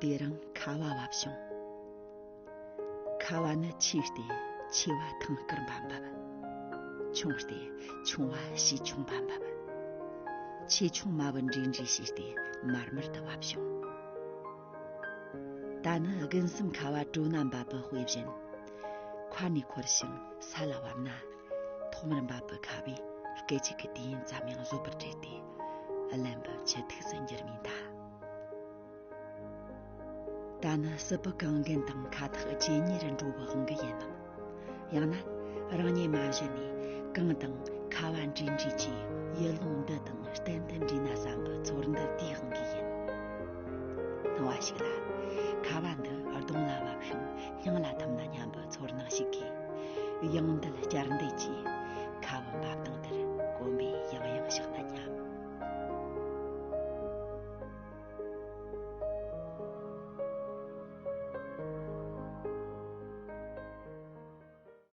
དེ་རང་ཁ་བ་བབ་བྱུང་ཁ་བ་ནི་ཆུའི་སྟེ་ཆེ་བ་ཐང་སྐར་འབབ་འབབ་ཆུང་སྟེ་ཆུང་བ་ཞེ་ཆུང་འབབ་འབབ་ཆེ་ཆུང་མ་བུ་འདྲེས་འདྲེས་བྱས་ཏེ་མར་མར་དུ་བབ་བྱུང་ད་ནི་དགུན་གསུམ་ཁ་བ་དྲོ་ན་འབབ་པའི་དཔེ་བཞིན་ཁ་ནས་འཁོར་ཞིང་ས་ལ་བབས་ན། ཐོག་མར་འབབ་པའི་ཁ་བས་སྐད་ཅིག་གིས་དུས་ཡུན་ཙམ་ཡང་བཟོད་པར་བྲེལ་ཏེ། བརླན་པའི་ཕྱིར་ཐུགས་སུ་འགྱུར་མིན་གདའ། ད་ནི་སྲིད་པའི་གངས་རྒན་དང་ཁ་ཐག་ཇེ་ཉེ་རུ་འགྲོ་བའི་དབང་གིས་ཡིན་ནམ། ཡང་ན་རང་ཉིད་མ་གཞི་ནས་གངས་དང་ཁ་བ་འདྲིས་འདྲིས་ཀྱི་ཡུལ་ལུང་འདི་དང་གཏན་དུ་འདྲིས་ན་བསམ་པའི་ཚོར་འདུ་དེའི་དབང་གིས་ཡིན། སྣང་བ་ཞིག་ལ་ཁ་བ་འདི་གདོང་ལ་བབས་ཤིང། ཡང་ལ་ཐུམ་ན་སྙམ་པའི་ཚོར་སྣང་ཞིག་གིས་དབྱངས་འདི་ལ་བསྐྱར་འདེད་ཀྱིས་ཁ་བ་འབབ་སྟངས་དེར་གོམས་པའི་ཡང་ཡང་ཞག་ན་སྙམ།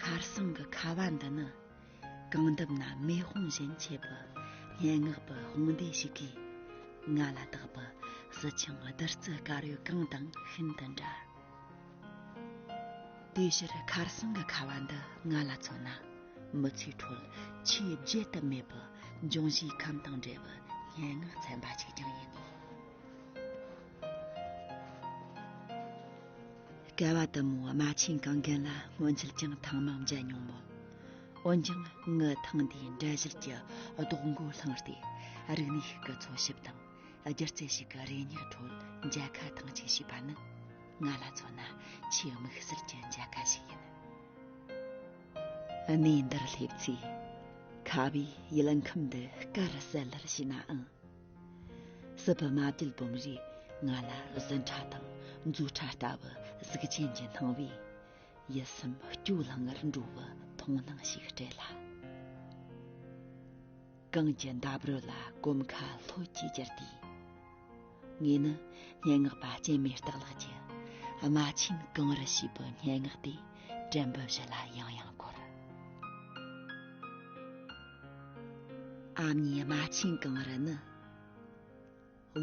ཁར་སང་གི་ཁ་བ་འདི་ནི་གངས་འདབས་ན་མེ་དཔུང་བཞིན་མཆེད་པའི་སྙན་ངག་པའི་དཔུང་སྡེ་ཞིག་གིས་ང་ལ་བཏགས་པའི་སྲིད་འཆིང་བདུད་རྩི་དཀར་ཡོལ་གང་དང་ཤིན་ཏུ་འདྲ། དེའི་ཕྱིར་ཁར་སང་གི་ཁ་བ་འདི་ང་ལ་མཚོན་ན་མི་ཚེའི་ཁྲོད་ཆེས་བརྗེད་དུ་མེད་པའི་འབྱུང་བཞིའི་ཁམས་དང་འབྲེལ་བའི་སྙན་ངག་ཚན་པ་ཞིག་ཀྱང་ཡིན་ངེས། སྐལ་བ་དུ་མོ་རྨ་ཆེན་གངས་རྒན་ལ་སྔོན་ཆད་ཀྱང་ཐང་མང་མཇལ་མྱོང་མོད། འོན་ཀྱང་ངའི་ཐང་འདིའི་འབྲས་གཞིར་གྱི་རྡོག་མགོའི་ལྷིང་ལྟའི་རིག་གནས་ཤིག་གི་འཚོལ་ཞིབ་དང་སྒྱུ་རྩལ་ཞིག་གི་རེ་སྙེག་ཁྲོད་མཇལ་ཁ་ཐེངས་གཅིག་བྱས་པ་ནི་ང་ལ་མཚོན་ན་ཆེས་དམིགས་བསལ་གྱི་མཇལ་ཁ་ཞིག་ཡིན། གནས་འདིར་སླེབས་ཚེ་ཁ་བའི་ཡུལ་ཁམས་འདི་དཀར་གསལ་ལེར་བྱས་ནའང། སྲིད་པའི་མ་བསྒྲིལ་བུམ་རིགས་ལྔ་ལ་ཟིན་ཕྲ་དང་རྫུ་ཕྲ་ལྟ་བུ་གཟུགས་ཅན་གྱི་སྣང་བས། ཡིད་གསུམ་སྐྱོ་ལང་ངར་འགྲོ་བའི་མཐོང་སྣང་ཞིག་སྤྲད་ལ། གངས་ཀྱི་འདབས་རོལ་ལ་གོམ་ཁ་ལྷོད་ཀྱིས་བསྒྱུར་དུས། ངས་ནི་སྙན་ངག་པ་སྐྱེ་མེད་སྟག་ལགས་ཀྱི་རྨ་ཆེན་གངས་རི་ཞེས་པའི་སྙན་ངག་དེ་དྲན་འབུམ་བཞི་ལ་ཡང་ཡང་བསྐོར། ཨ་མྱེས་རྨ་ཆེན་གངས་རི་ནི་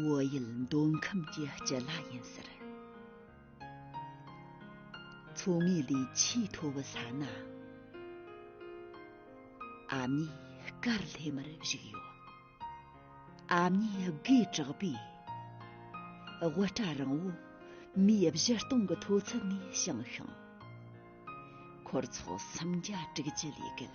བོད་ཡུལ་འདོད་ཁམས་ཀྱི་སྤྱི་ལ་ཡིན་ཟེར་མཚོ་ངོས་ལས་ཆེས་མཐོ་བའི་ས་ན་ཨ་མྱེས་སྐར་ལྷེ་མར་བཞུགས་ཡོད་ཨ་མྱེས་དགེ་གྲགས་པས་དབུ་སྐྲ་རིང་བོ་མིའི་བཞི་སྟོང་གི་མཐོ་ཚད་ནས་བྱུང་ཞིང་འཁོར་ཚོགས་སུམ་བརྒྱ་དྲུག་ཅུ་ལས་བརྒལ་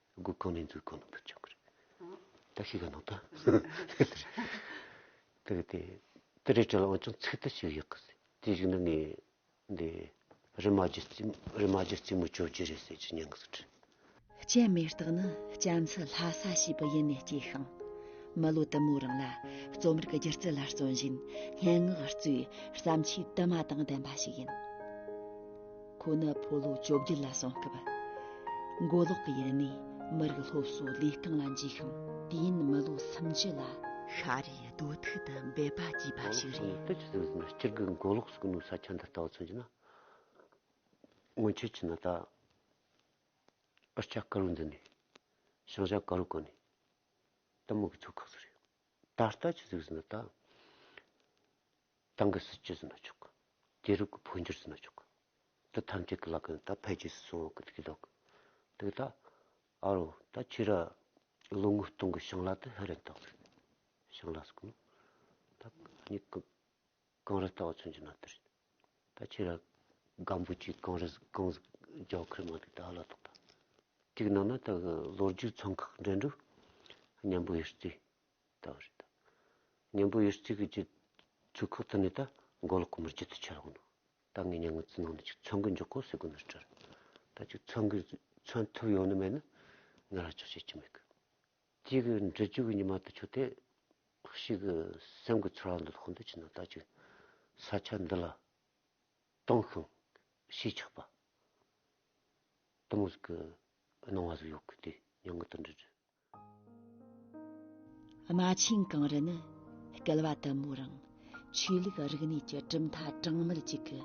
སྒོ་གང་ནས་འཛུལ་གང་ནས་འཕུད་བྱུང་གི་རེད། བཀྲ་ཤིས་ཀྱི་ནང་དུ། དེ་རེད་དེ། དེ་རེད་བྲིས་ལ་འོན་ཀྱང་ཚིག་ཐད་ཞིག་ཡོད་གི། དེ་ཞིག་ནི་ངས་འདི། རི་མ་རྒྱུད་རྩིས་མོ་རི་མ་རྒྱུད་རྩིས་མོ་གྱོད་རྒྱུ་རེད་ཟེར་གྱི་མྱངས་སུ་བྲིས། སྤྱན་མེ་སྟག་ནི་སྤྱན་ཚེ་ལྷ་ས་ཞེས་པའི་ཡུལ་ནས་སྐྱེས་ཤིང། མི་ལོ་དུ་མའི་རིང་ལ་རྩོམ་རིག་སྒྱུ་རྩལ་ལ་བརྩོན་བཞིན་སྙན་ངག་གཙོས་བརྩམས་ཆོས་དུ་མ་དང་ལྡན་པ་ཞིག་ཡིན། ཁོ་ནི་ཕོ་ལོ་བཅོ་བརྒྱད་ལ་སོང་སྐབས་མགོ་ལོག་གི་ཡུལ་ནས་མི་རིགས་སློབ་གསོ་ལས་རྐང་ལ་འཇུས་ཤིང་དུས་ཡུན་མི་ལོ་སུམ་ཅུ་ལ་ཤ་རུས་རྡོ་ཐུག་ཏུ་འབད་པ་བགྱིས་པ་མགོ་ལོག་ཞིག་སོང་ནས་རེད། ལྟོས་ཅི་ཟེར་ཟེར་ན་སྤྱིར་སྒོས་མགོ་ལོག་སུ་གི་ནུབ་ས་ཆ་འདི་ལྟ་བུ་མཚོན་གྱི་ན། སྔོན་ཆད་ཀྱི་ན་ད། ཨོ་ཆ་དཀར་བོ་འདི་ནི་ཤང་ཤང་དཀར་བོ་ཀོ་ནི་ཏི་མུག་གི་ཚོ་ཁག་ཟེར་ཡོད། ད་ལྟ་ཅི་ཟེར་ཟེར་ན་ད། ཏང་གི་སྲིད་ཇུས་བཟོ་ན་ཆོག་གི། རྒྱལ་ཁབ་ཀྱི་འཕོ་འགྱུར་བཟོ་ན་ཆོག་གི། དེ་ཐམས་ཅད་ཀྱི་ལག་གི་ད་འཕེལ་རྒྱས་སུ་སོང་བ་ཀྱི་ལྡོག་གི། དེ་ད་ཨ་རོ་ད་ཁྱེད་ར་ལོ་ངོ་སྟོང་གི་ཞིང་ལ་དེ་ཧེ་རན་ཏོག་རེད། ཞིང་ལ་སོགས་ནི་ད་གཉིས་ཀ་གངས་རི་ལྟ་བ་མཚོན་གྱི་ན་དེ་རེད། ད་ཁྱེད་ར་སྒམ་པོ་ཆུའི་གངས་རི་གངས་རྒྱ་ཁུལ་མ་དེ་ད་ཨ་ལ་ཏོག་ད། གཅིག་ནང་ན་ད་གི་ལོ་རྒྱུས་ཚོང་ཁག་འགྲན་བསྡུར་སྙན་པོ་ཡོད་རྩིས། བདག་རེད་ད། གཉེན་པོ་ཡོད་ཚིག་གི་རྗེ། ཚུལ་ཁག་ཏུ་ནི་ད། མགོ་ལོག་གི་མིར་རྗེ་ཏུ་ཆ་ལག་ནོ། ད་ངའི་གཉེན་ངོས་ཙི་ནང་ནས་ཅིག་ཚོན་གི་འཇོག་གོ་ཟེར་དགོས་ནོ་སྤྲར། ད་ཅིག་ཚོན་གི། ཚོན་ཐུབ་ཡོང་ནི་མེད་ན། ང་ལ་ཅོག་བྱེད་ཀྱི་མེད་གི། ཅིག། འབྲི་ཆུ་གི་ཉི་མ་དུ་ཆུ་དེ། ཞིག་གི། སེམས་ཀྱི་ཚོར་བ་འདི་ལྷོག་འདོད་ཀྱི་ན་ད་ཅིག། ས་ཆ་འདི་ལ། སྟོང་ཤིང། ཞེས་ཆགས་པ། གཏི་མུག་གི། སྣང་བ་ཟིག་ཡོད་གི་དེ། མྱང་ངན་དུ་འདྲི་འདྲི། རྨ་ཆེན་གངས་རི་ནི་བསྐལ་བ་དུ་མའི་རིང་ཆོས་ལུགས་རིག་གནས་ཀྱི་གྲུབ་མཐའ་གྲངས་མེད་ཅིག་གི་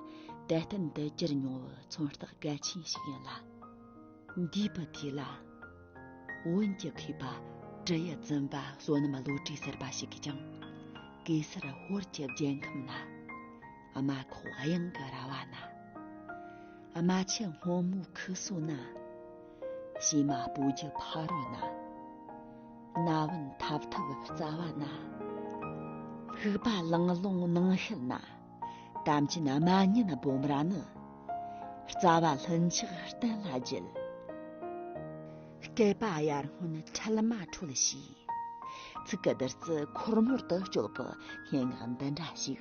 དད་རྟེན་དུ་གྱུར་མྱོང་བའི་མཚོན་རྟགས་གལ་ཆེན་ཞིག་ཡིན་ལ། འདས་པའི་དུས་ལ་བོན་གྱི་མཁས་པ་ཀྲི་ཡི་བཙུན་པ་བསོད་ནམས་བློ་གྲོས་ཟེར་པ་ཞིག་གིས་ཀྱང་གེ་སར་ཧོར་གྱི་རྒྱལ་ཁམས་ན། དམའ་ཁོག་གཡང་གི་ར་བ་ན་དམའ་ཆུ་སྔོན་མོའི་ཁུ་སོ་ན་བྱེ་མ་སྤོ་རྒྱུ་ཕ་རོལ་ན་ན་བུན་འཐབ་འཐབ་རྩ་བ་ན་ཕུག་པ་ལང་ལོང་ནང་ཤེལ་ན་དམ་ཅན་དམའ་གཉེན་སྦོམ་ར་ནི་རྩ་བ་ལྷུན་ཆགས་གཏན་ལ་འགྱེལ་སྐལ་པ་ཡར་སྔོན་འཕྲལ་མ་འཕྲོད་ཞེས་ཚིག་གི་བདུད་རྩི་འཁོར་མོར་དུ་བསྐྱོད་པའི་སྙན་ངག་འདི་འདྲ་ཞིག་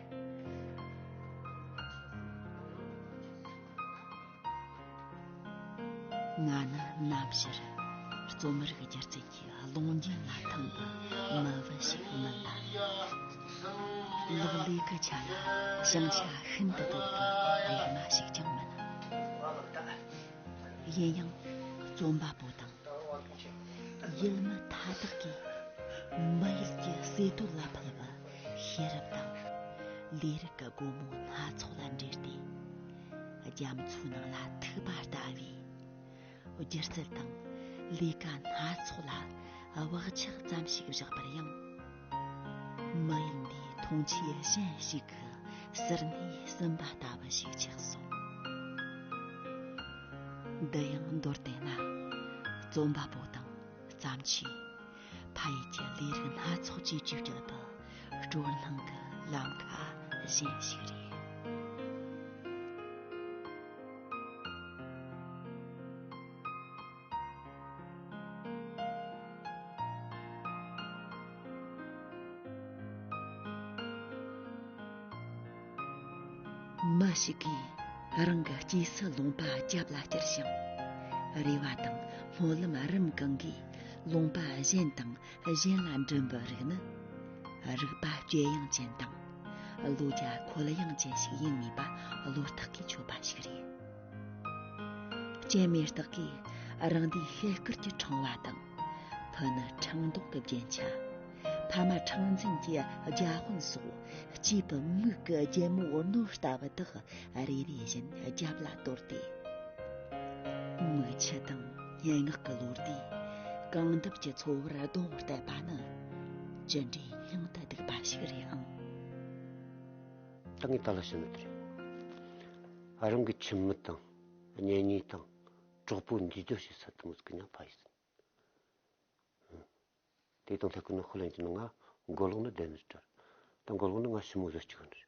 ང་ནི་གནའ་ཕྱིར་རྩོམ་རིག་སྒྱུ་རྩལ་གྱི་ཀློང་རྒྱན་ལ་འཐམ་པའི་མི་བུ་ཞིག་མིན་ལ། ལོག་ལས་ཀྱི་ཆ་ལ་བྱང་ཆ་ཤིན་ཏུ་དོད་པའི་རིག་མ་ཞིག་ཀྱང་མིན། ཡིན་ཡང་རྩོམ་པ་པོ་དང་ཡུལ་མི་མཐའ་དག་གིས་མི་ཡུལ་གྱི་བརྩེ་དུང་ལ་ཕུལ་བ། ཤེས་རབ་དང། ལས་རིགས་ཀྱི་སྒོ་མོ་སྣ་ཚོགས་ལ་འབྲེལ་ཏེ། རྒྱ་མཚོའི་ནང་ལ་ཐིགས་པ་ལྟ་བུའི། སྒྱུ་རྩལ་དང། ལས་ཀ་སྣ་ཚོགས་ལ་བག་ཆགས་ཙམ་ཞིག་བཞག་པར་ཡང། མི་ཡིན་པའི་མཐོང་ཆོས་གཞན་ཞིག་གི་ཟུར་སྣེ་གསུམ་པ་ལྟ་བུ་ཞིག་ཆགས་སོ། འདི་ཡང་མདོར་བསྟན་ན། རྩོམ་པ་པོ་དང་བརྩམས་ཆོས། ཕ་ཡུལ་གྱི་ལས་རིགས་སྣ་ཚོགས་ཀྱི་བཅོས་སྒྱུར་དང་སྤྲོ་སྣང་གི་ལམ་ཁ་གཞན་ཞིག་རེད། མི་ཞིག་གིས་རང་གི་སྐྱེས་སུ་ལུང་པ་རྒྱབ་ལ་བསྐྱུར་ཞིང་རེ་བ་དང་སྨོན་ལམ་རིམ་གང་གིས་ལུང་པ་གཞན་དང་གཞན་ལ་འགྲིམ་པའི་རིགས་ནི། རིག་པ་སྐྱེད་ཡང་ཅན་དང། བློ་རྒྱ་འཁོལ་ཡང་ཅན་ཞིག་ཡིན་ངེས་པ་བློ་རྟགས་ཀྱིས་ཆོད་པ་ཞིག་རེད། སྐྱེ་མེད་རྟགས་ཀྱིས་རང་འདི་ཤེས་སྐུར་གྱི་འཕྲེང་བ་དང། ཕུ་ནི་འཕྲེང་ལྡོག་གི་རྒྱན་ཆ། ཕ་མ་འཕྲེང་འཛིན་གྱི་རྒྱ་དཔོན་སོགས་སྐྱེས་པའི་མིག་གི་རྒྱལ་མོ་བོར་སྣོད་ལྟ་བུ་དག་རེ་རེ་བཞིན་རྒྱབ་ལ་དོར་ཏེ། མིག་ཆུ་དང། སྙན་ངག་གི་ལོ་ཟླའི་རྐང་འདབ་ཀྱི་འཚོ་བར་གདོང་གཏད་པ་ནི་ཅི་འདྲའི་སྙིང་དུ་སྡུག་པ་ཞིག་རེད་ཨང། ད་ངས་ད་ལ་བཤད་ན་དེ་རེད། རང་གི་ཁྱིམ་མི་དང་གཉེན་ཉེ་དང་གྲོགས་པོ་འདུས་སྡོད་བྱེད་ས་དང་མི་ཚེ་གི་ན་བ་ཡིན། དེ་དང་ལྷག་གི་ནི་ཧོ་ལན་གྱི་ནི་ང་མགོ་ལོག་ནི་བདེན་མེད་ཀྱི་གྲལ། ད་མགོ་ལོག་ནི་ང་ཞི་མོ་བཟོ་ཅི་གི་རེད།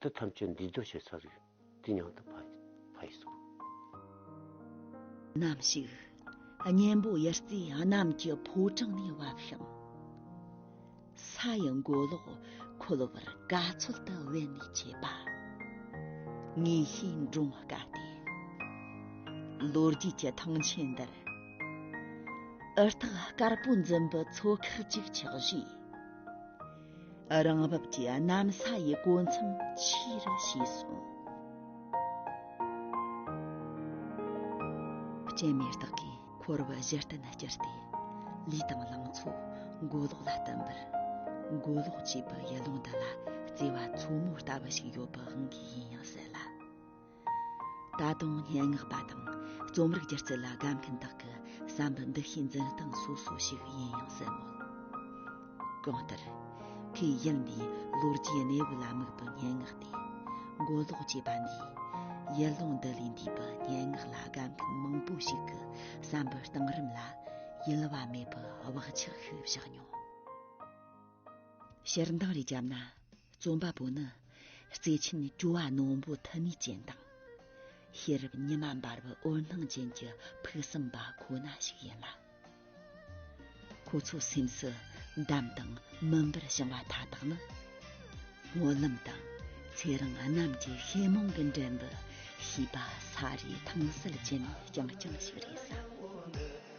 འདི་ཐམས་ཅད་འདུས་མདོ་ཞེས་བྱ། འདི་མྱང་འདི་བྷ་ཡིས་སོ། ནམ་ཞིག་གཉེན་པོ་ཡི་རྩིས་གནམ་གྱི་ཕོ་བྲང་ནས་བབས་ཤིང། ས་ཡི་མགོ་ལོག་འཁོལ་བར་དགའ་ཚོད་དུ་དབེན་ནས་ཆས་པ། ངེས་ཤེས་འབྲོང་བ་དགའ་སྟེ། ལོ་རྒྱུས་ཀྱི་ཐང་ཆེན་འདིར། འུར་ཐག་དཀར་པོ་འཛིན་པའི་ཚོ་ཁག་ཅིག་ཆགས་རྗེས། རང་བབས་ཀྱི་གནམ་ས་ཡི་གོ་མཚམས་ཆེ་རུ་ཕྱེ་སོང། སྤྱན་མེ་སྟག་གིས་འཁོར་བ་གཞི་རྟེན་བསྐྱུར་ཏེ་ལུས་དང་ལང་ཚོ་མགོ་ལོག་ལ་བསྟིམ་པར། མགོ་ལོག་ཅེས་པའི་ཡུལ་ལུང་འདི་ལ་བརྩེ་བ་མཚོ་མོ་ལྟ་བུ་ཞིག་ཡོད་པའང་ཡིན་ཡང་སྲིད་ལ། ད་དུང་སྙན་ངག་པ་དང་རྩོམ་རིག་སྒྱུ་རྩལ་ལ་དགའ་མཁན་དག་གི་བསམ་པའི་འདུ་ཤེས་འཛིན་སྟངས་སོ་སོ་ཞིག་ཡིན་ཡང་སྲིད་མོད། གང་ལྟར། ཁོས་ཡུལ་འདིའི་ལོ་རྒྱུས་གནས་བབ་ལ་དམིགས་པའི་སྙན་ངག་སྟེ། མགོ་ལོག་ཅེས་པ་འདིས། ཡུལ་ལུང་འདི་ལས་འདས་པའི་སྙན་ངག་ལ་དགའ་མཁན་མང་པོ་ཞིག་གི་བསམ་པའི་གཏིང་རིམ་ལ་གཡེལ་བ་མེད་པའི་བག་ཆགས་ཤིག་བཞག་མྱོང། ཞལ་མདངས་རེ་བརྒྱབ་ན་རྩོམ་པ་པོ་ནི་བརྩེ་ཆེན་སྤྲོ་བ་རྣོན་པོ་ཐུ་མི་ཅན་དང་ཤེས་རབ་ཉི་མ་འབར་བའི་འོད་སྣང་ཅན་གྱི་ཕུགས་བསམ་པ་ཁོ་ན་ཞིག་ཡིན་ལ། ཁོ་ཚོའི་སེམས་སུ་འདམ་དང་མུན་པར་བྱུང་བ་མཐའ་དག་ནི་སྨོན་ལམ་དང་ཚེ་རིང་རྣམས་ཀྱི་ཤེས་རྨོངས་ཀྱི་འགྲམ་དུ་ཤེས་པ་ས་རིས་ཐང་གསལ་ཅན་རྐྱང་རྐྱང་ཞིག་རེད་བསམ།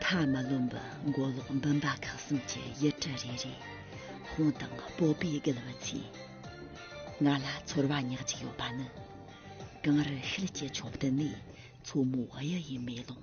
མཐའ་མ་ལོན་པར་མགོ་ལོག་འབུམ་པ་ཁག་གསུམ་གྱི་ཡུལ་གྲུ་རེ་རེ་ཧོང་དང་སྤོ་པས་བརྒལ་བ་ཚེ་ང་ལ་ཚོར་བ་ཉག་ཅིག་ཡོད་པ་ནི་གངས་རི་ཤེལ་གྱི་ཕྱོགས་བསྟན་ནས་མཚོ་མོའི་གཡུ་ཡི་མེ་ལོང་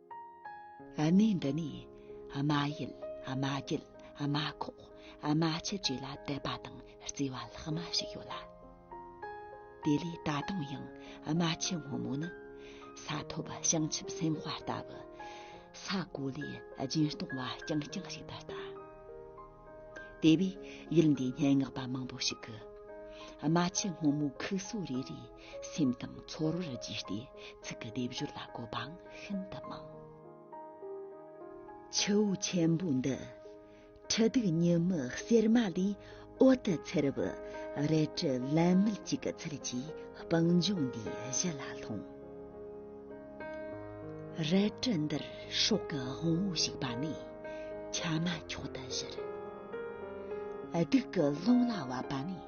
ཨ་མའི་འདི་ནས་ཨ་མ་ཡུལ་ཨ་མ་རྒྱུད་ཨ་མ་ཁོག་ཨ་མ་ཆུ་བཅས་ལ་དད་པ་དང་བརྩེ་བ་ལྷག་མ་ཞིག་ཡོད་ལ། དེ་ལས་ད་དུང་ཡང་ཨ་མ་ཆེན་སྔོན་མོ་ནི་ས་ཐོབ་བྱང་ཆུབ་སེམས་དཔའ་ལྟ་བུ་ས་གོ་ལའི་སྦྱིན་གཏོང་བ་རྐྱང་རྐྱང་ཞིག་ད་ལྟ། དེ་བས་ཡུལ་འདིའི་སྙན་ངག་པ་མང་པོ་ཞིག་གིས་རྨ་ཆུ་སྔོན་མོའི་ཁུགས་སོ་རེ་རེའི་སེམས་དང་ཚོར་བར་གཞིགས་ཏེ་ཚིག་གི་སྡེབ་སྦྱོར་ལ་གོ་བའང་ཤིན་ཏུ་མང། ཆུ་བོ་ཆེན་པོ་འདི་ཁྲི་གདུགས་ཉི་མའི་གསེར་མ་ལས་འོད་དུ་འཚེར་བའི་རལ་གྲི་ལན་མེད་ཅིག་གི་ཚུལ་གྱིས་སྤང་ལྗོངས་འདིའི་གཞི་ལ་ལྷུང། རལ་གྲི་འདིར་སྲོག་གི་དབང་བོ་ཞིག་པ་ནི་ཆ་མ་འཁྱོག་ཏུ་བཞུར། སྡུག་གི་རླུང་ལ་བབ་པ་ནི་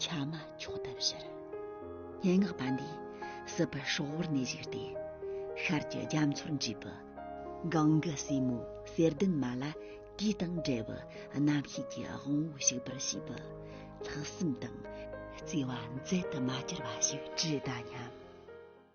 ཆ་མ་འཁྱོག་ཏུ་བཞུར། སྙན་ངག་པ་འདིས་སྲིད་པའི་སྲོག་དབོར་ནས་བཞུགས་ཏེ་ཤར་གྱི་རྒྱ་མཚོར་འཇུས་པའི་གངས་ཀྱི་སྲས་མོ་གསེར་ལྡན་མ་ལ་དུས་དང་བྲལ་བའི་རྣམ་ཤེས་ཀྱི་དབང་བོ་ཞིག་པར་བྱས་པའི་ལྷག་བསམ་དང་བརྩེ་བ་མཛད་དུ་མ་གྱུར་པ་ཞིག་ཅི་ལྟ་སྙམ།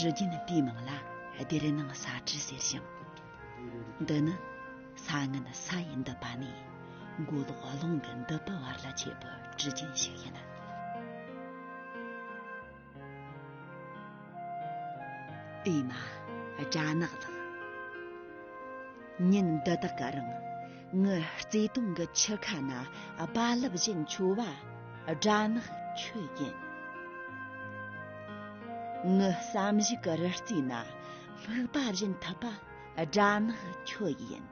དྲི་རྒྱུན་པའི་མིང་ལ་སྡེར་སྣང་ས་དྲི་ཟེར་ཞིང། འདི་ནི་ས་ངན་ས་ཡི་འདི་པ་ནས་མགོ་ལོག་རླུང་གི་འདི་པའི་བར་ལ་མཆེད་པའི་དྲི་རྒྱུན་ཞིག་ཡིན། དེས་ན་སྦྲ་ནག་ལགས། ཉིན་འདི་དག་གི་རིང་ངའི་བརྩེ་དུང་གི་ཆུ་ཁ་ན་རྦ་རླབས་བཞིན་འཕྱོ་བ་སྦྲ་ནག་ཁྱོད་ཡིན། ངའི་བསམ་གཞིག་གི་རི་རྩེ་ན་སྨུག་པ་བཞིན་འཐུལ་པ་སྦྲ་ནག་ཁྱོད་ཡིན།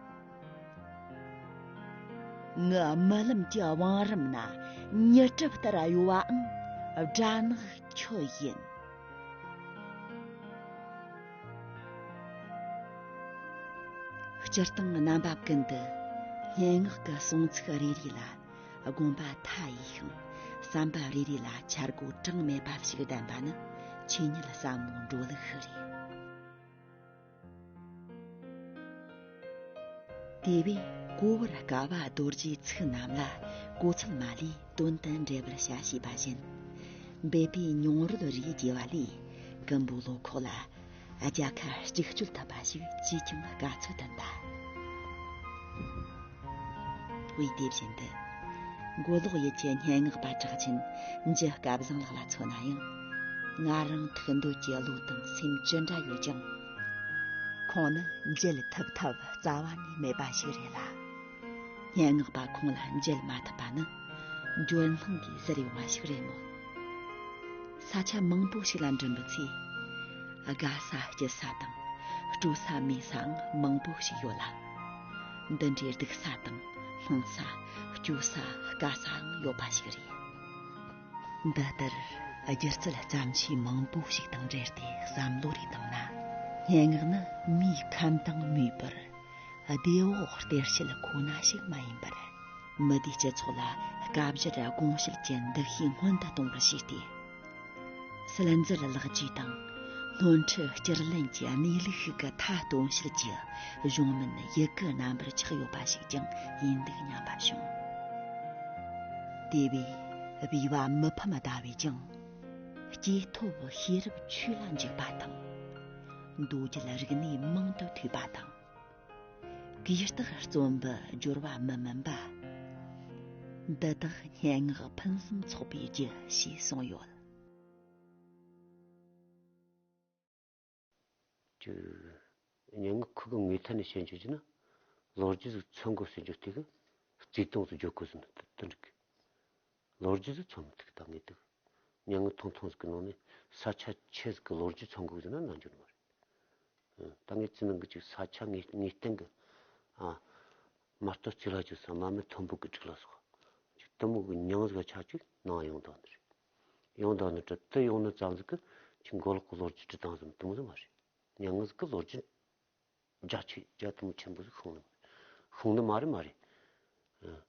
ངའི་རྨི་ལམ་གྱི་བང་རིམ་ན་ཉི་གྲིབ་ལྟར་གཡོ་བའང་སྦྲ་ནག་ཁྱོད་ཡིན། སྤྱིར་བཏང་རྣམ་པ་ཀུན་ཏུ་སྙན་ངག་གི་གསུང་ཚིག་རེ་རེ་ལ་དགོངས་པ་མཐའ་ཡས་ཤིང་བསམ་པ་རེ་རེ་ལ་འཆར་སྒོ་གྲངས་མེད་པ་ཞིག་ལྡན་པ་ནི་ཆོས་ཉིད་བསམ་བློའི་འགྲོ་ལུགས་ཤིག་རེད། དེ་བས་གོ་བར་དཀའ་བ་རྡོ་རྗེའི་ཚིག་རྣམས་ལ་གོ་ཚུལ་མ་ལུས་དོན་དུ་འགྲེལ་པར་བྱ་ཞེས་པ་བཞིན། འབད་པས་མྱོང་རོལ་རིགས་རྒྱས་པ་ལས་ཀིམ་པོ་ལོ་ཁོག་ལ་རྒྱལ་ཁ་གཅིག་སྤྱོད་ཐུབ་པ་ཞིག་ཅིས་ཀྱང་དཀའ་ཚོད་ལྡན་པ། དབུས་དེ་བཞིན་དུ། མགོ་ལོག་ཡུལ་གྱི་སྙན་ངག་པ་གྲགས་ཆེན་རྗེ་སྐལ་བཟང་ལགས་ལ་མཚོན་ན་ཡང། ང་རང་ཐུགས་འདོད་ཀྱི་བློ་དང་སེམས་ཅི་འདྲ་ཡོད་ཀྱང། ཁོང་ནི་མཇལ་ཐུབ་ཐབས་རྩ་བ་ནས་མེད་པ་ཞིག་རེད་ལ། སྙན་ངག་པ་ཁོང་ལ་མཇལ་མ་ཐུབ་པ་ནི། འགྱོད་སྣང་གིས་ཟེར་ཡོང་བ་ཞིག་རེད་མོད། ས་ཆ་མང་པོ་ཞིག་ལ་འགྲིམ་པའི་ཚེ། དགའ་ས་སྐྱིད་ས་དང་སྤྲོ་ས་མེད་སའང་མང་པོ་ཞིག་ཡོད་ལ། འདི་འདྲའི་སྡུག་ས་དང་སྣང་ས་སྐྱོ་ས་དཀའ་སའང་ཡོད་པ་ཞིག་རེད། འདི་ལྟར་སྒྱུ་རྩལ་བརྩམ་ཆོས་མང་པོ་ཞིག་དང་འབྲེལ་ཏེ་བསམ་བློ་རེ་བཏང་ན། སྙན་ངག་ནི་མིའི་ཁམས་དང་མིའི་བར་བདེ་བོ་སྟེར་བྱེད་ཁོ་ན་ཞིག་མ་ཡིན་པར། མི་སྡེའི་སྤྱི་ཚོགས་ལ་སྐབས་འཕྱར་དགོངས་བཞེད་ཀྱི་འདུ་ཤེས་སྔོན་དུ་གཏོང་བར་བྱས་ཏེ། སིལ་འཛུལ་ལག་བཅོས་དང་སྣོན་འཕྲི་སྐྱུར་ལེན་གྱི་གནས་ལུགས་ཤིག་གི་མཐའ་སྟོན་བྱེད་ཀྱི་གཞུང་མིན་ཡི་གེ་རྣམ་པར་ཆགས་ཡོད་པ་ཞིག་ཀྱང་ཡིན་འདུག་སྙམ་པ་བྱུང། དེ་བས་དབྱེ་བ་མི་ཕམ་ཟླ་བས་ཀྱང། སྐྱེས་ཐོབ་ཤེས་རབ་ཆོས་ལ་འཇུག་པ་དང། མདོ་རྒྱུད་རིག་གནས་མང་དུ་ཐོས་པ་དང། གུས་རྟག་བརྩོན་པའི་སྦྱོར་བ་མི་དམན་པ། འདི་དག་སྙན་ངག་ཕུན་སུམ་ཚོགས་པའི་རྒྱུ་ཞེས་གསུངས་ཡོད། སྙན་ངག་ཁུལ་གྱི་ངོས་ཐད་ནས་བཤད་འཇོག་བྱས་ན། ལོ་རྒྱུས་སུ་ཚོད་འགོག་བྱེད་འཇོག་ཐད་ཀྱི་རྩིས་སྟངས་སུ་འཇོག་དགོས་ཚུལ་འདི་འགྲིག་གི། ལོ་རྒྱུས་སུ་ཚོང་འགུགས་བཏང་གི་འདུག་མྱ་ངན་ཐུང་ཐུང་ཟིག་གི་ནང་ནས་ས་ཆ་ཆེ་ཟིག་གི་ལོ་རྒྱུས་ཚོང་འགུགས་ཟེར་ན་རྣ་འགྱུར་མ་རེད། ད་ངས་ཅི་གནང་གི་ཅིག་ས་ཆ་ངས་ངའི་སྟེང་གི། མ་གཏོགས་ཅི་ལ་ཅིག་ཟེར་མ་མི་མཐོན་པོ་གི་སྒྲིག་ལ་སོགས་ཅིག་གཏི་མུག་གི་མྱང་ཟིག་ལ་ཆགས་ཅིག་གནང་ཡོང་དོགས་ནི་རེད། ཡོང་དོགས་ནི་དྲི་དི་ཡོང་ནི་ཙམ་ཟིག་གི་ཅིག་མགོ་ལོག་གི་ལོ་རྒྱུས་དྲི་བཏང་ཟིག་གཏི་མུག་ཟིག་མ་རེད། མྱ་ངན་ཟིག་གི་ལོ་རྒྱུས་རྒྱ་ཆེ་རྒྱ་གཏི་མུག་ཆེན་པོ་ཟིག་ཤོང་ནི་མ་རེད། ཤོང་ནི་མ་རེད་མ་རེད།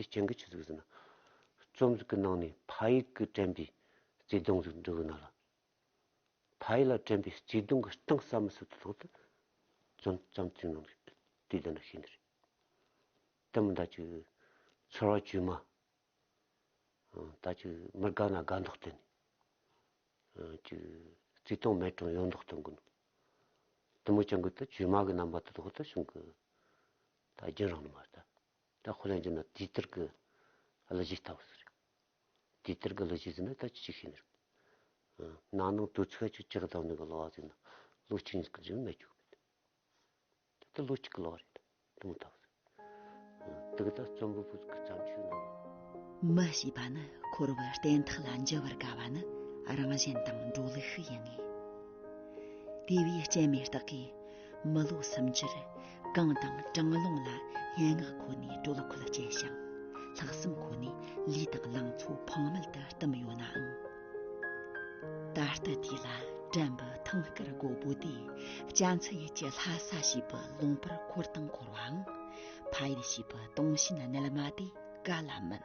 དེ་སྤྱན་གྱི་ཆུ་ཚིགས་སུ་ན། རྩོམ་གཟིགས་ཀྱི་ནང་ནས་ཕ་ཡིག་གི་དྲན་པའི་བརྩེ་དུང་ཟེར་འབྲུ་བུ་ན་ལ། ཕ་ཡིག་ལ་དྲན་པའི་བརྩེ་དུང་གི་གཏིང་ཟབ་མོ་ཟུར་དུ་ལྷུང་སྟེ། རྩོམ་རྩོམ་ཚིག་ནང་གི་དུས་འདི་ན་ཤིན་ཏུ་རེ། དེ་མིན་ད་ཅིག་ཚོར་བ་བཅོས་མ། ད་ཅིག་མི་དགའ་ན་དགའ་མདོག་སྟོན། ཅིག་བརྩེ་དུང་མེད་གྲང་ཡོང་མདོག་སྟོན་དགོས་ནོ། དེ་མོ་སྤྱན་དགོད་དུ་བཅོས་མ་གི་རྣམ་པ་དུ་ཐོག་ཏུ་བྱུང་གི། ད་རྒྱན་རང་ནི་མ་རེད། ད་ཁོ་རང་ཅེ་ན་དེའི་ལྟར་གི་གླུ་གཞས་ལྟ་བུ་ཟེར། དེའི་ལྟར་གི་གླུ་གཞས་ཟེར་ན་ད་ཅི་ཞིག་ཤེས་ནི་རེད། ནང་ནང་དུ་ཚིག་གཅིག་གཅིག་གདངས་ནི་གི་གླུ་བ་ཟེར་ན་གླུ་གཅིག་ཉིད་ཀྱི་ཟེར་ན་རྒྱུགས་མེད། ད་ལྟ་གླུ་གཅིག་གི་གླུ་བ་རེད་ད་ལྟ་མོ་ལྟ་བུ་ཟེར། དེ་གི་ད་རྩོམ་པོ་པོ་གི་བརྩམས་ཆོས་རྣམས་ལ། མི་ཞེས་པ་ནི་འཁོར་བའི་རྟེན་ཐག་ལ་འཇུ་བར་དཀའ་བ་ནི་རང་བཞིན་དང་འགྲོ་ལུགས་ཤིག་ཡིན་ངེས། དེ་བས་སྤྱན་མེད་རྟགས་ཀྱིས། མ་ལུག་སུམ་འགྱུར་རྐང་དང་གྲང་རླུང་ལ་སྙན་ངག་ཁོ་ནའི་སྤྲོ་ལ་ཁུ་ལ་སྐྱེལ་ཞིང། ལྷག་བསམ་ཁོ་ནས་ལུས་དང་ལང་ཚོ་ཕངས་མེད་དུ་བསྟིམས་ཡོད་ནའང། ད་ལྟ་དུས་ལ་དྲན་པའི་ཐང་དཀར་མགོ་བོ་དེ་སྐྱ་མཚལ་ཡུལ་གྱི་ལྷ་ས་ཞེས་པའི་ལུང་པར་འཁོར་དང་འཁོར་བའང་ཕ་ཡུལ་ཞེས་པའི་དུངས་ཞེན་རྣལ་མ་དེ་ག་ལ་མིན།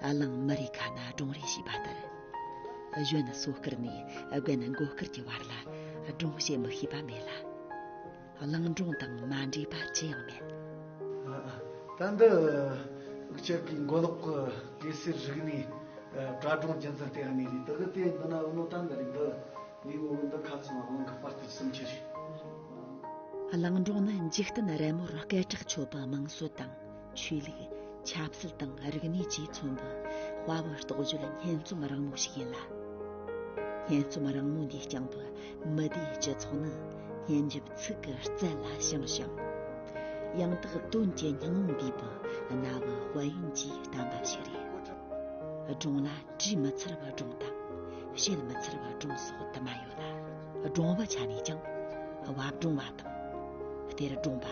གླིང་མི་རེ་ཁ་ན་སྒྲུང་རེ་ཞེས་པ་ལྟར་གཞོན་ནུ་སོ་སྐར་ནས་དགུན་ནི་མགོ་སྐར་གྱི་བར་ལ་སྒྲུང་བཤད་མི་ཤེས་པ་མེད་ལ། གླིང་སྒྲུང་དང་མ་འདྲེས་པ་ཅི་ཡང་མེད། ད་འདི་དབུགས་ཆད་ཀྱི་མགོ་ལོག་གི་གེ་སེར་རིག་ནས་དྲ་སྒྲུང་རྒྱུན་འཛིན་བལྟས་ཡ་ངེས་རེད་དེ་གི་དེ་འདི་ན་འུ་ནོ་ཏན་རེད་འདི་ངའི་ངོ་བོ་འདི་ཁ་ཚང་བ་གླིང་གི་དཔར་དེབ་གསུམ་ཆ་རེད། གླིང་སྒྲུང་ནི་འཇིག་རྟེན་རི་མོར་སྐད་གྲགས་ཆོད་པའི་དམངས་སྲོལ་དང། ཆོས་ལུགས་ཆབ་སྲིད་དང་རིག་གནས་བཅས་མཚོན་པའི་དཔའ་བོའི་རྟོགས་བརྗོད་སྙན་རྩོམ་རིང་མོ་ཞིག་ཡིན་ལ། སྙན་རྩོམ་རིང་མོ་འདིའི་རྐྱང་པའི་མི་སྡེའི་སྤྱི་ཚོགས་ནི་སྙན་འཇེབས་ཚིག་གི་རྩལ་ལ་བྱང་ཞིང། ཡང་དག་དོན་གྱི་སྙིང་བོ་འདུས་པའི་རྣ་བའི་དཔལ་ཡོན་གྱིས་བསྟན་པ་ཞིག་རེད། སྒྲུང་ལ་བྲིས་མི་ཚར་བའི་སྒྲུང་དང་བཤད་མི་ཚར་བའི་སྒྲུང་སོགས་དུ་མ་ཡོད་ལ། སྒྲུང་བའི་ཆ་ནས་ཀྱང་བབ་སྒྲུང་བ་དང་སྟེར་སྒྲུང་བ།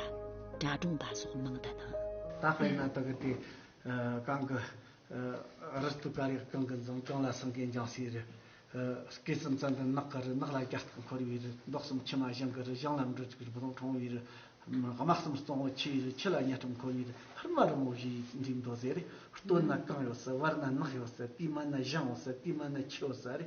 སྒྲ་སྒྲོངས་པ་སོགས་མང་དུ་སྣང། ད་དཔེར་ན་དག་སྡེ་གང་གི་རི་སྟུ་ཀ་རིགས་གང་གི་འཛུམ་གང་ལ་སེང་གེའི་འཇང་སའི་རི། སྐེ་ཙུམ་ཙམ་པའི་ནགས་ཀྱི་རི་ནགས་ལ་རྒྱ་སྟག་འཁོར་བའི་རི་མདོག་གསུམ་ཕྱི་མ་གཞང་གི་རི་གཞང་ལ་འབྲུ་གཅིག་རི་བོང་ཕྲེང་བའི་རི། དམག་གསུམ་གཙང་བོ་ཆེའི་རི་ཁྱི་ལ་གཉའ་ཁྲོམ་འཁོར་བའི་རི་ཧར་དམར་རི་མོ་བཞི་འདུས་མདོ་ཟེར། སྟོད་ན་རྐང་ཡོད་སའི་བར་ན་ནགས་ཡོད་སའི་དུས་མ་ན་གཞང་ཡོད་སའི་དུས་མ་ན་ཁྱི་ཡོད་སའི་རི།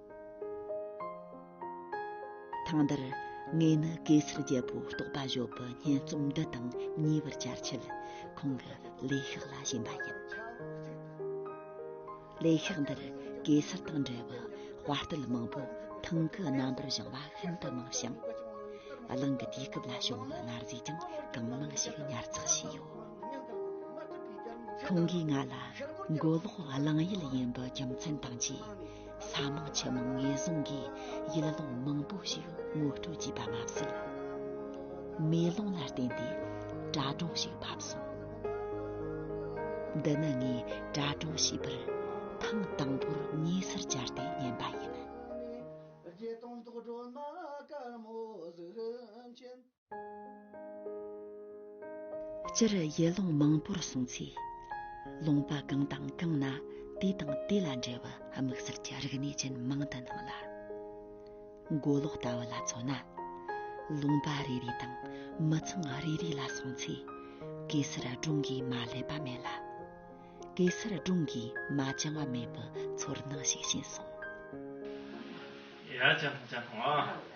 ཐང་འདིར་ངས་ནི་གེ་སར་རྒྱལ་པོ་རྟོགས་པ་བཞོ་པོ་སྙན་རྩོམ་འདི་དང་ཉེ་བར་བཅར་ཆེད་ཁོང་གི་ལས་ཤག་ལ་ཞེན་པ་ཡིན། ལས་ཤག་འདིར་གེ་སར་དང་འབྲེལ་བའི་དཔའ་རྟུལ་མང་པོ་ཐང་གི་རྣམ་པར་བཞེངས་པ་ཤིན་ཏུ་མང་ཞིང། གླིང་གི་དུས་སྐབས་ལ་བྱུང་བའི་གནའ་རྫས་ཀྱང་གང་མང་ཞིག་ཉར་ཚགས་བྱས་ཡོད། ཁོང་གིས་ང་ལ་མགོ་ལོག་གླིང་ཡུལ་ཡིན་པའི་རྒྱུ་མཚན་དང་བཅས། ས་མང་ཆུ་མང་ངན་སོང་གི་ཡུལ་ལུང་མང་པོ་ཞིག་ངོ་སྤྲོད་བགྱིས་པ་མ་ཟད། མེ་ལོང་ལ་བརྟེན་ཏེ་དྲ་གྲོགས་ཤིག་ཕབ་སོང། འདི་ནི་ངས་དྲ་གྲོགས་བྱས་པར་ཐེངས་དང་པོར་ཉེ་སར་བཅར་ཏེ་ཉན་པ་ཡིན། སྤྱིར་ཡུལ་ལུང་མང་པོར་སོང་ཚེ་ལུང་པ་གང་དང་གང་ན་དེ་དང་དེ་ལ་འབྲེལ་བའི་དམིགས་བསལ་གྱི་རིག་གནས་ཅན་མང་དུ་སྣང་ལ། མགོ་ལོག་ལྟ་བུ་ལ་མཚོན་ན་ལུང་པ་རེ་རེ་དང་མི་ཚང་རེ་རེ་ལ་སོང་ཚེ་གེ་སར་སྒྲུང་གིས་མ་བསླད་པ་མེད་ལ། གེ་སར་སྒྲུང་གིས་མ་བཅིངས་བ་མེད་པའི་ཚོར་སྣང་ཞིག་བྱིན་སོང། ཡ་ཅང་ཅང་ཨ།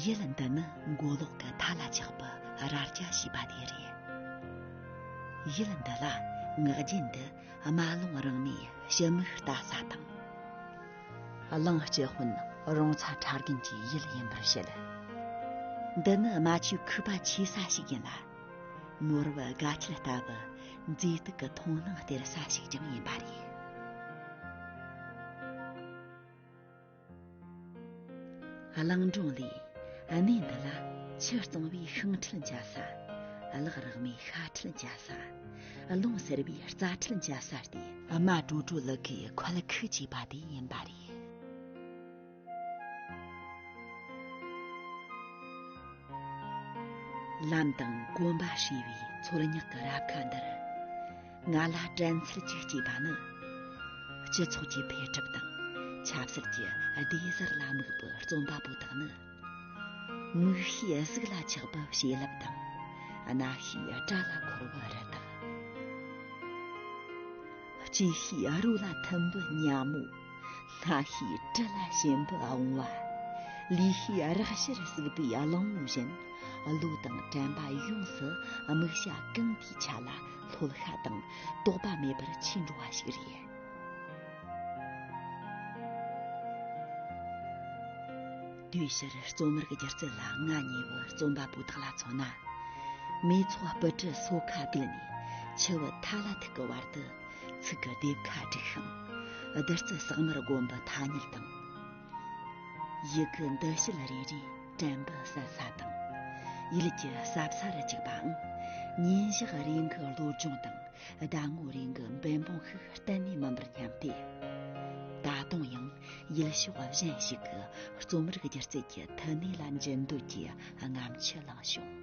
ཡིད་ལ་འདི་ནི་མགོ་ལོག་གི་མཐའ་ལ་ཆགས་པའི་རྭ་རྐྱ་ཞེས་པ་དེ་རེད་ཡིད་ལ་འདི་ལ་ངག་རྒྱུན་དུ་རྨ་ཀློང་རང་མོས་ཞི་མོའི་རྟ་ས་དང། གླིང་སྐྱེས་དཔོན་རོང་ཚ་ཁྲ་རྒན་གྱི་ཡུལ་ཡིན་པར་བཤད། འདི་ནི་རྨ་ཆུའི་ཁུག་པ་ཆེ་ས་ཞིག་ཡིན་ལ། ནོར་བུ་དགའ་ཁྱད་ལྟ་བུ་མཛེས་སྡུག་གི་མཐོང་སྣང་སྟེར་ས་ཞིག་ཀྱང་ཡིན་པ་རེད། གླིང་སྒྲུང་ལས་གནས་འདི་ལ་ཆུ་གཙང་བའི་ཤིང་ཁྲི་འཇའ་ས། གླག་རག་མའི་ཤ་ཁྲི་འཇའ་ས། རླུང་ཟེར་བའི་རྩ་ཁྲིད་འཇའ་ས་སྟེ། རྨ་དྲོ་དྲོ་ལུག་གི་ཁོལ་ཁུག་ཅེས་པ་དེ་ཡིན་པ་རེད། ལམ་དང་གོམ་པ་ཧྲིལ་བའི་མཚོར་ཉག་གི་རབ་ཁ་འདིར། ང་ལ་དྲན་ཚུལ་གཅིག་སྐྱེས་པ་ནི། སྤྱི་ཚོགས་ཀྱི་འཕེལ་གྲིབ་དང་ཆབ་སྲིད་ཀྱི་བདེ་གཟར་ལ་དམིགས་པའི་རྩོམ་པ་པོ་དག་ནི། མིག་ཤེས་གཟུགས་ལ་ཆགས་པ་བྱིན་རླབས་དང། རྣ་ཤེས་སྒྲ་ལ་འཁོར་བ་རི་དྭགས། ལྕེ་ཤེས་རོ་ལ་ཐུམ་འབུ་གཉའ་མོ། སྣ་ཤེས་དྲི་ལ་ཞིམ་འབུ་འོང་བ། ལུས་ཤེས་རག་ཤར་བསྲེགས་པའི་གླིང་བུ་བཞིན། བློ་དང་དྲན་པ་ཡོངས་སུ་དམིགས་བྱ་གང་དེའི་ཆ་ལ་ལྷོད་ཤ་དང་དོགས་པ་མེད་པར་འཆི་འགྲོ་བ་ཞིག་རེད། དུས་ཕྱིར་རྩོམ་མེར་གྱི་སྒྱུ་རྩལ་ལ་ང་ཉེ་བའི་རྩོམ་པ་པོ་དག་ལ་མཚོན་ན་མི་ཚོགས་སྤུ་གྲི་སོ་ཁ་བསྡུས་ནས་ཆུ་བོ་ཐ་ལ་ཐུག་གི་བར་དུ་ཚིག་གི་ལྡེབས་ཁ་བསྒྲིགས་ཤིང་བདུད་རྩི་ཟག་མེར་དགོན་པའི་ཐ་སྙད་དང། ཡི་གེ་འདི་བྱེད་རེ་རེས་དྲན་པའི་གསལ་ས་དང་ཡུལ་གྱི་ཟབ་ས་རུ་འཇུག་པའང་ཉིན་ཞག་རིང་གི་བློ་སྦྱོང་དང་ཟླ་ངོ་རིང་གི་འབད་འབུངས་ཤིག་གཏན་ནས་མིན་པར་སྙམ་སྟེ། ད་དུང་ཡང་ཡུལ་ཕྱོགས་གཞན་ཞིག་གི་རྩོམ་རིག་སྒྱུ་རྩལ་གྱི་མཐུ་ནུས་ལ་འཇུན་འདོད་ཀྱི་རྔམ་ཆུ་བླངས་བྱུང།